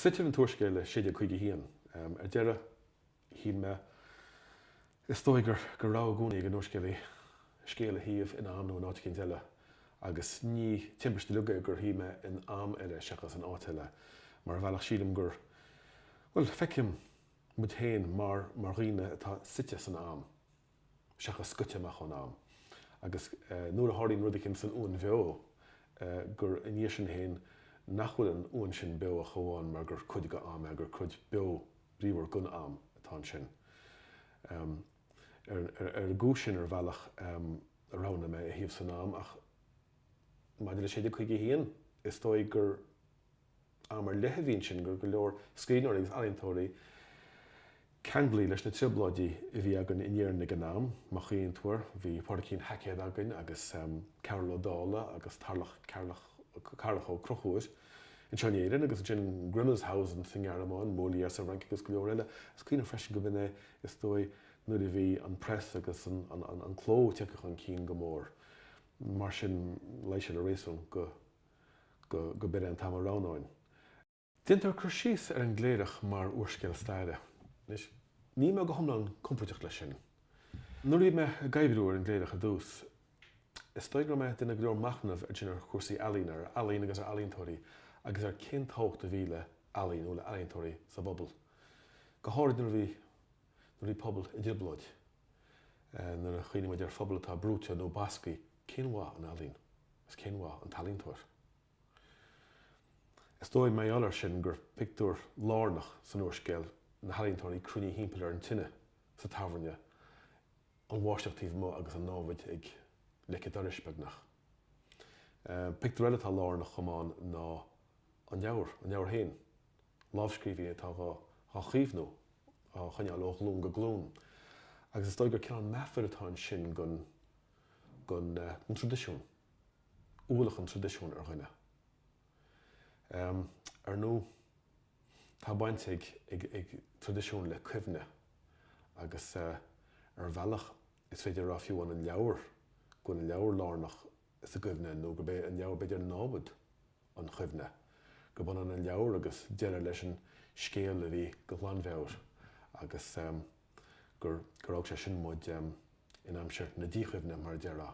Suitear an t-úrscéal i 1651. Ar deireadh shuigh mé, is dóigh gur, gur rogha i gcónaí ag an úrscéalaí scéal a shuíomh in am nó in áit éicint eile, agus ní timpiste uilig é gur shuigh mé in am eile seachas in áit eile. Mar ar bhealach sílim gur, bhuel, feicim muid féin mar dhaoine atá suite san am. seachas scoite amach ón am, agus nuair a tharlaíonn rud éicint san uain bheo, gur i ndiaidh sin féin nach bhfuil an uain sin beo ach amháin mar gur cuid de am é, gur cuid beo bríomhar den am atá ansin. Ar an gcúis sin, ar bhealach, a roghnaigh mé é a shuíomh san am, ach maidir le 1651, is dóigh gur. Am ar leith a bhí ansin gur go leor scríbhneoirí agus ealaíontóirí ceanglaithe leis na trioblóidí a bhí againn in Éirinn ag an am, má chuimhníonn tú air, bhí Pádraigín Haicéad againn agus Cearbhall Ó Dálaigh agus Tarlach, Tarlach Carrach Ó Conchúir anseo in Éirinn agus ansin Grimmelshausen sa nGearmáin, Molière sa bhFrainc agus go leor eile. Is cuimhin liom freisin go b'in é is dóigh nuair a bhí an press agus an cló tagtha chun cinn go mór mar sin luigh sé le réasún go go b'iod é an t-am a roghnóinn. Déantar cur síos ar an gCléireach mar úrscéal staire. Anois, níl mé go hiomlán compóirteach leis sin. Nuair a bhí mé ag oibriú ar an gCléireach ar dtús, is dóigh go raibh mé ag déanamh go leor machnaimh ansin ar chúrsaí ealaíne, ar ealaín agus ar ealaíontóirí agus ar cén tábhacht a bhí le healaín nó le healaíontóirí sa bpobal, go háirid nuair a bhí. nuair a bhí pobal i dtrioblóid, nuair a chuimhníonn muid ar phobal atá brúite nó basctha, cén mhaith an ealaín agus cén mhaith an t-ealaíontóir? Is dóigh, mar gheall air sin, gur pictiúr lárnach san úrscéal na healaíontóirí cruinnithe thimpeall ar an tine sa tábhairne, an bháisteach taobh amuigh agus an námhaid ag leic a' dorais, beagnach. Pictiúr eile atá lárnach chomh maith ann ná an leabhar, an leabhar féin. lámhscríbhinn atá á chaomhnú, á choinneáil ó ghlún go glún, agus is dóigh gur cineál meafair atá ansin den traidisiún, ualach an traidisiúin ar dhuine. Ar ndóigh, tá baint ag traidisiún le cuimhne agus ar bhealach is féidir a rá fiú an leabhar, go bhfuil an leabhar lárnach sa gcuimhne nó gurb é an leabhar b'fhéidir námhaid an chuimhne, gurb ionann an leabhar agus deireadh leis an scéal a bhí de ghlanmheabhair agus gur fhág sé sin muid in aimsir na díchuimhne, mar a déarfá.